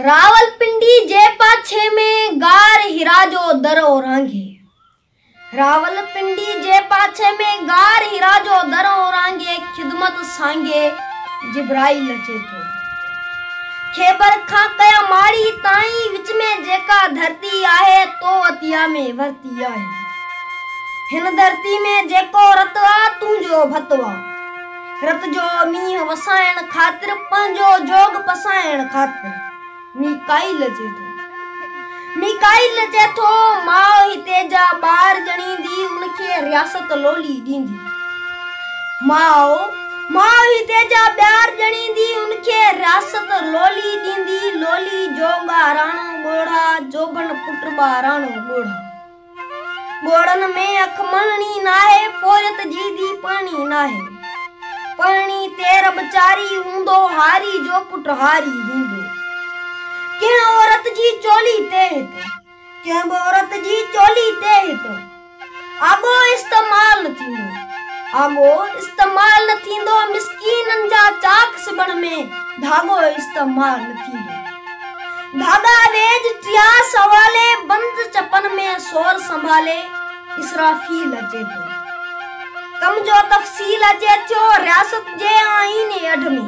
راولپنڊي جي پاڇي ۾ غار حرا جو در اورانگهي راولپنڊي جي پاڇي ۾ غار حرا جو در اورانگهي خدمت سانگي جبرائيل اچي ٿو. خيبر کان ڪيا ماڙي تائين وچ ۾ جيڪا ڌرتي آهي تو عطيه ۾ ورتي آهي. هن ڌرتي ۾ جيڪو رت آ تنهنجو ڀت آ. رت جو مينهن وسائڻ خاطر پنهنجو جوڳ پسائڻ خاطر ميڪائيل اچي ٿو. ميڪائيل اچي ٿو، ماء هتي جا ٻار ڄڻيندي ان کي رياست لولي ڏيندي. ماء ماء هتي جا ٻار ڄڻيندي ان کي رياست لولي ڏيندي، لولي جوڳاراڻو ڳوڙها، جوڀن پٽ ٻاراڻو ڳوڙها. ڳوڙهن ۾ اک مهڻي ناهي، پورهيت جي ڌي پهڻي ناهي. پهڻي تير به چاري هوندو، هاري جو پٽ هاري هوندو. ڪنهن عورت جي چولي تي هت، ڪنهن به عورت جي چولي تي هت، آڳو استعمال نه ٿيندو. آڳو استعمال نه ٿيندو، مسڪينن جا چاڪ سبڻ ۾ ڌاڳو استعمال نه ٿيندو. گاڏا ويڄ ٽيا سنڀالي. بند چپن ۾ سور سنڀالي اسرافيل اچي ٿو. ڪم جو تفصيل اچي ٿيو رياست جي آئين ايڊ ۾.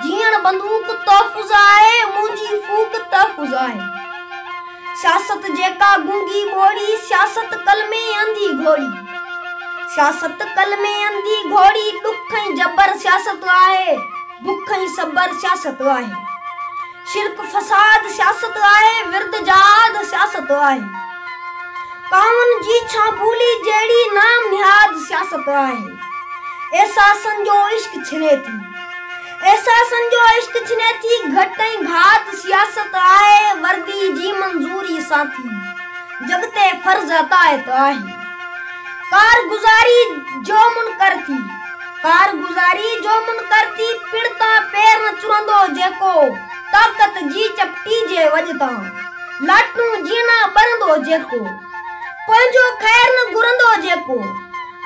جيئڻ بندوق تحفظ آهي، منهنجي ڦوڪ تحفظ آهي. سياست جيڪا گونگي ٻوڙي، سياست ڪل ۾ انڌي گهوڙي. سياست ڪل ۾ انڌي گهوڙي، ڏک ۽ جبر سياست آهي. بک ۽ صبر سياست آهي. شرڪ فساد سياست آهي. ورد جهاد سياست آهي. ڪاون جي ڇان ٻولي جهڙي نام نهاد سياست آهي. احساسن جو عشق ڇني ٿي. احساسن جو عشق ڇني ٿي. گهٽ ۽ گهات سياست آهي. وردي جي منظوري سان ٿي. جڳ تي فرض اطاعت آهي. ڪارگذاري جو منڪر ٿي. ڪارگذاريء جو منڪرٿي پڻ تان پير نه چرندو جيڪو طاقت جي چپٽي جي وڄ تان لاٽون جيئن نه ٻرندو جيڪو پنهنجو خير نه گهرندو جيڪو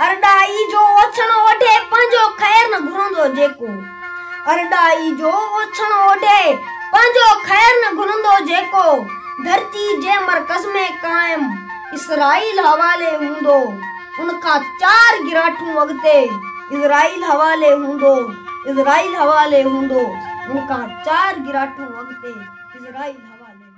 ارڏائي جو اوڇڻ اوڍي پنهنجو خير نه گهرندو جيڪو ارڏائي جو اوڇڻ اوڍي پنهنجو خير نه گهرندو جيڪو ڌرتي جي مرڪز ۾ قائم اسرائيل حوالي هوندو. ان کان چار گراٺون اڳتي اسرائيل حوالي هوندو، اسرائيل حوالي هوندو، ان کان چار گراٺون اڳتي اسرائيل حوالي هوندو.